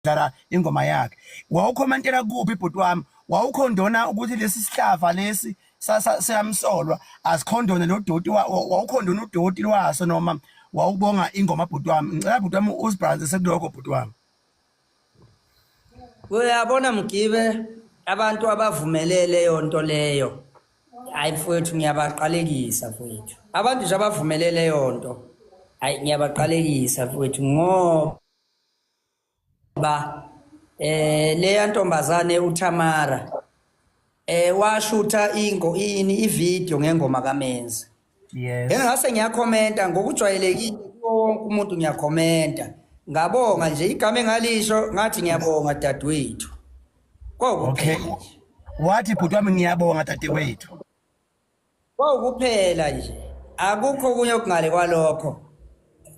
ukudlala ingoma yakhe wawukhomantela kuphi bhuti wami wawukhondona ukuthi lesi sihlava lesi siyamsolwa asikhondone lo doti wawukhondona udoti lwaso noma wawubonga ingoma bhuti wami ngicela bhuti wami usibhalanse sekuloko bhuti wami uyabona mgibe abantu abavumelele yonto leyo hayi mfowethu ngiyabaqalekisa mfowethu abantu nje abavumelele yonto hayi ngiyabaqalekisa mfowethu ngoba ba eh leya ntombazane uThamara eh washutha ingo ini ivideo ngengoma kaMenzi yes engase ngiyakhomenta ngokujwayelekile wonke umuntu ngiyakhomenta ngabonga nje igama engalisho ngathi ngiyabonga dadewethu okay wathi bhuti wami ngiyabonga dadewethu Kwawukuphela nje. Akukho kunye okungale kwalokho.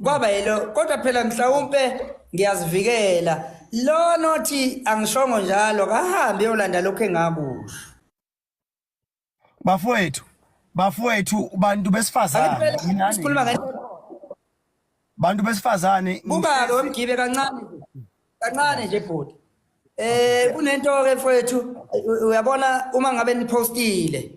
Kwaba yilo kodwa phela mhlawumbe ngiyazivikela. Lo nothi angishongo njalo kahambe yolanda lokho engakusho. Bafowethu, bafowethu bantu besifazane. Sikhuluma ngento bantu besifazane Bukake wemgibe kancane nje. Kancane nje bhuti. Eh kunento ke mfowethu u- uyabona uma ngabe nipostile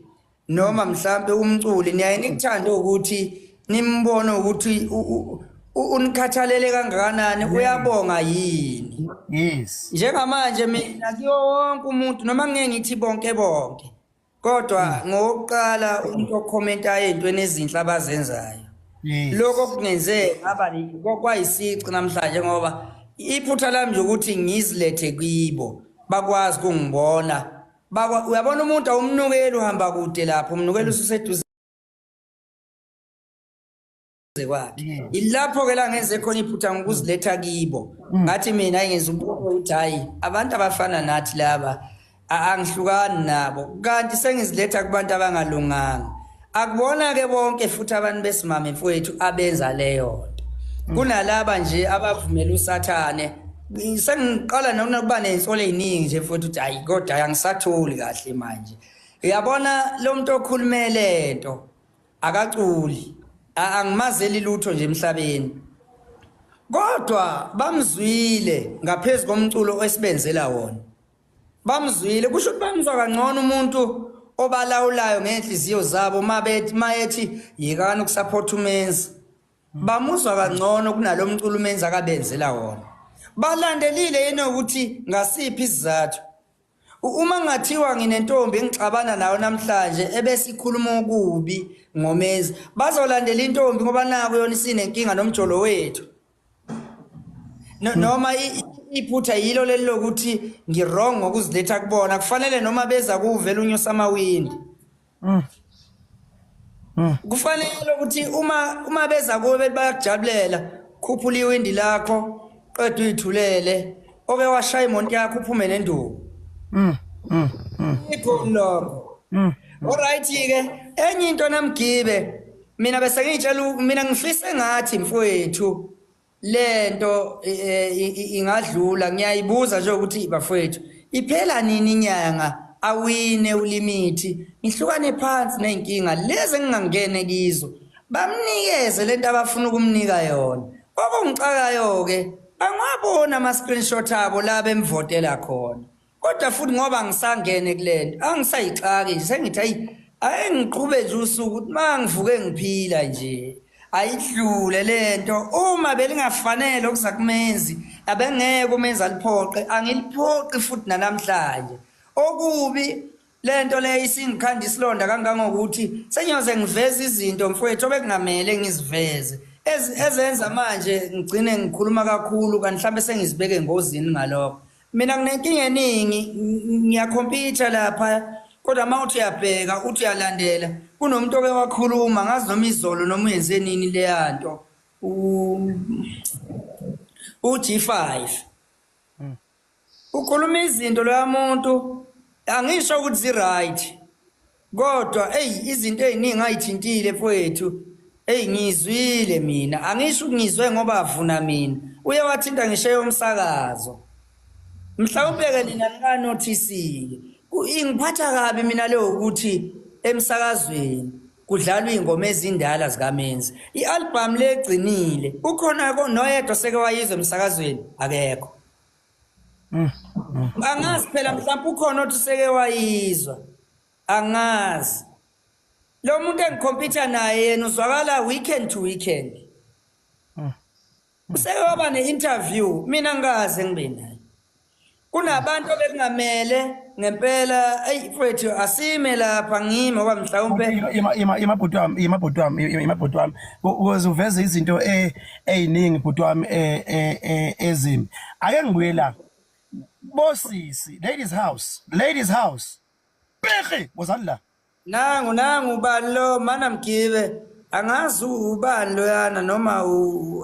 noma mhlambe umculi niyaye nikuthande ukuthi nimbone ukuthi u- u- u- unikhathalele kangakanani uyabonga yini. yes Njengamanje mina kuyo wonke umuntu noma ngeke ngithi bonke bonke kodwa hmm. ngokuqala umuntu okhomenta ey'ntweni ezinhle abazenzayo lokho kungenze ngaba kwayisici namhlanje ngoba iphutha lami nje ukuthi ngizilethe kibo bakwazi kungibona uyabona umuntu awumnukeli uhamba kude lapho umnukeli ususeduze eduze kwakhe ilapho-ke la ngenze khona iphutha ngokuziletha kibo mm. ngathi mina ngenza umbuko ukuthi hhayi abantu abafana nathi laba angihlukani nabo kanti sengiziletha kubantu abangalunganga akubona-ke bonke futhi abantu besimame mfowethu abenza leyo nto mm. kunalaba nje abavumela usathane sengiqala nokuba nensolo ey'ningi nje futhi ukuthi hhayi kodwa angisatholi kahle manje uyabona lo muntu okhulumele nto akaculi angimazeli lutho nje emhlabeni kodwa bamzwile ngaphezulu komculo esibenzela wona bamzwile kusho ukuthi bamzwa kangcono umuntu obalawulayo ngeenhliziyo zabo uma bethi mayethi yekani ukusaphotha umenzi bamuzwa kangcono kunalo mculo umenzi akabenzela wona balandelile yena ukuthi ngasiphi isizathu Uma ngathiwa nginentombi engixabana nayo namhlanje ebese ikhuluma okubi ngoMenzi, bazolandela intombi ngoba naku yona isinenkinga nomjolo wethu. No- Noma i- i- iphutha yilo leli lokuthi ngirong ngokuziletha kubona, kufanele noma beza kuwuvela unyusa amawindi. Mm. Mm. Kufanele ukuthi uma uma beza kuwe bethi bayakujabulela khuphula iwindi lakho qeda uyithulele oke washaya imonto yakho uphume nenduku. Mm. Mm. mm. Ikho lokho. Mm. Alright ke enye into namgibe mina bese ngitshela mina ngifise ngathi mfowethu lento ingadlula ngiyayibuza nje ukuthi bafowethu iphela nini inyanga awine ulimithi ngihlukane phansi nezinkinga lezi engingangene kizo bamnikeze lento abafuna ukumnika yona okungicakayo ke angwabona ama screenshot abo la bemvotela khona kodwa futhi ngoba ngisangene kulento angisayixaki nje sengithi ayi ayi ngiqhube nje usuku ukuthi uma ngivuke ngiphila nje ayidlule lento uma belingafanele okuza kumenzi abengeke umenzi aliphoqe angiliphoqi futhi nanamhlanje okubi Lento le isingikhanda isilonda kangangokuthi senyoze ngiveza izinto mfwethu obekungamele ngiziveze. Ez- Ezenza manje ngigcine ngikhuluma kakhulu kanti mhlambe sengizibeke engozini ngalokho. Mina nginenkinga eningi ng- ngiyakhompitha lapha kodwa uma uthi uyabheka uthi uyalandela kunomuntu oke wakhuluma ngazi noma izolo noma uyenze nini leyanto. U- uG5 Ukhuluma izinto loya muntu angisho ukuthi zi right kodwa eyi izinto eziningi ayithintile mfowethu eyi ngizwile mina angisho ukungizwe ngoba avuna mina uye wathinta ngisho yomsakazo mhlawumbe-ke nina nikanothisile ingiphatha kabi mina leyo ukuthi emsakazweni kudlalwa iy'ngoma ezindala zikamenzi i-albhamu legcinile ukhona noyedwa seke wayizwa emsakazweni akekho Mm, mm. angazi phela mhlawumbe ukhona othi useke wayizwa angazi lo muntu engikhompyutha naye yena uzwakala weekend to weekend mm, useke waba ne-interview mina ngikaze ngibe naye kunabantu obekungamele ngempela eyi mfowethu asime lapha ngime oba mhlawumpe imabhuti wami imabhuti wami imabhuti wami ukuze uveze izinto um eziningi bhuti wami eh, eh, eh, ezimi ake ngibuye la bosisi ladies house ladies house pehe wozani la nangu nangu ubani lo mana mgibe angazi ubani loyana noma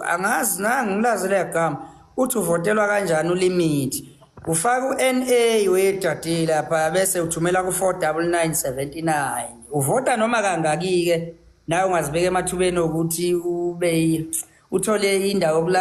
angazi nangu ngilazi leyagama uthi uvotelwa kanjani ulimithi ufaka u-NA wedadile lapha bese uthumela ku-49979 uvota noma kangaki-ke nawe ungazibeka emathubeni okuthi ube uthole indawo yokulala